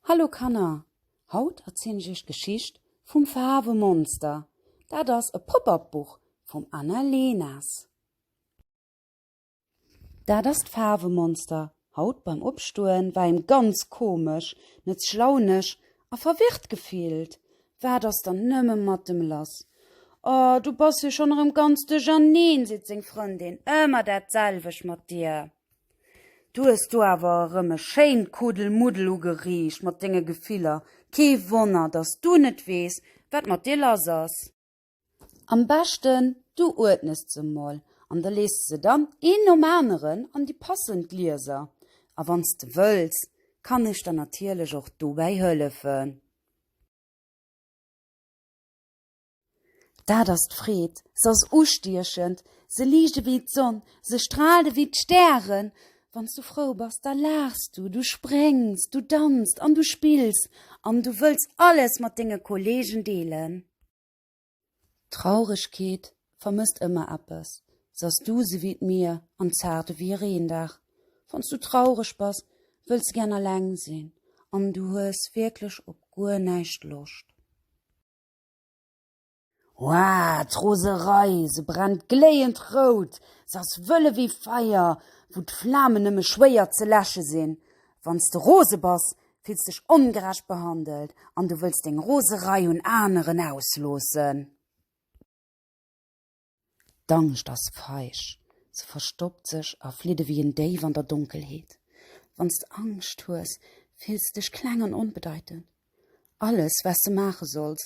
Hallo Kanner, haut erzielen ech iech d'Geschicht vum Faarwemonster. Dat ass e Pop-up Buch vum Anna Leners. Dat ass d'Faarwemonster. Haut beim Opstoen war him ganz komesch, net schlaunesch a verwirrt gefillt. Wat ass dann nëmme mat em lass? Oh, du bass jo schonn erëm ganz duercherneen, seet seng Frëndin. Ëmmer dat selwecht mat dir. Du hues do awer erëm e schéint Kuddelmuddel ugeriicht mat denge Gefiller. Kee Wonner, dass du net weess, wat mat dir lass ass. Am beschten, du uerdnes se emol an da lees de se dann een nom aneren an déi passend Glieser. A wann s de wëlls, kann ech der natierlech och dobäi hëllefen. Dat ass d'Freed, s'ass ustiechend, se liicht ewéi d'Sonn, se straalt ewéi d'Stären. Wann s du frou bass, da laachs du, du spréngs, du danzt an du spills an du wëlls alles mat denge Kolleegen deelen. D'Trauregkeet vermësst ëmmer eppes, s'ass duus ewéi d'Mier an zaart ewéi e Reendag. Wann s du traureg bass, wëlls de gären alleng sinn an du hues wierklech op guer näischt Loscht. Wah, d'Roserei, se brennt gléiend rout, se ass wëlle wéi Feier, wou d'Flamen nëmme schwéier ze läsche sinn. Wann s de rose bass, fills dech ongerecht behandelt an du wëlls deng Roserei un aneren ausloossen. D'Angscht ass feig, se verstoppt sech a flitt ewéi en Déif an der Donkelheet. Wann s de Angscht hues, fills de dech kleng an onbedeitend. Alles, wat s de maache solls,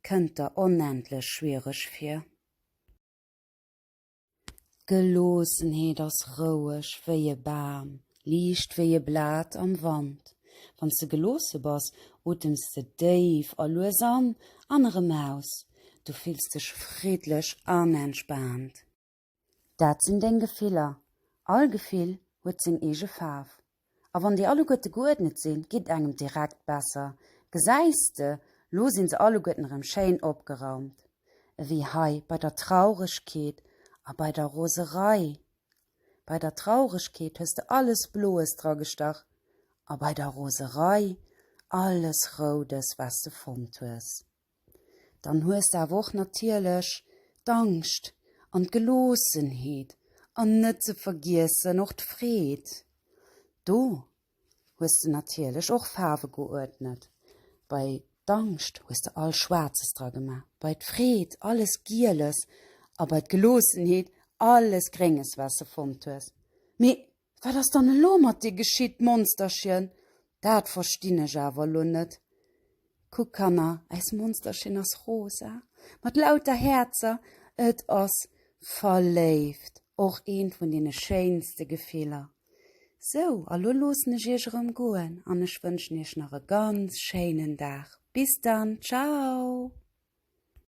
kënnt der onendlech schwiereg vir. D'Geloossenheet ass roueg wéi e Bam, Liicht wéi e Blat am Wand. Wann s de geloosse bass, otems de déif a lues an an erëm aus. Du fills dech friddlech an entspaant. Dat sinn deng Gefiller. All Gefill huet seng eege Faarf. A wann déi alleguerte geuerdnet sinn, geet et engem direkt besser. Gesäis de, lo si se alleguerten erëm schéin opgeraumt. Ewéi hei bei der Trauregkeet a bei der Roserei. Bei der Trauregkeet hues de alles Bloes dra gestach a bei der Roserei alles Roudes, wat de fonnt hues. Dann hues de awer och natierlech d'Angscht an d'Geloossenheet an net ze vergiessen och d'Freed. Do hues de natierlech och Faarwe geuerdnet. Bei d'Angscht hues de all Schwaarzes dra gemaach, bei d'Freed alles Gieles a bei d'Geloossenheet alles Grénges, wat s de fonnt hues. Mee wat ass dann elo mat dir geschitt, Monsterchen? Dat verstinn ech awer elo net. Kuckt, Kanner, äis Monsterchen ass rosa, mat lauter Häerzer, et ass verléift, och eent vun deene schéinste Gefiller. Sou, a lo loossen ech iech erëm goen an ech wënschen iech nach e ganz schéinen Dag. Bis dann, ciao!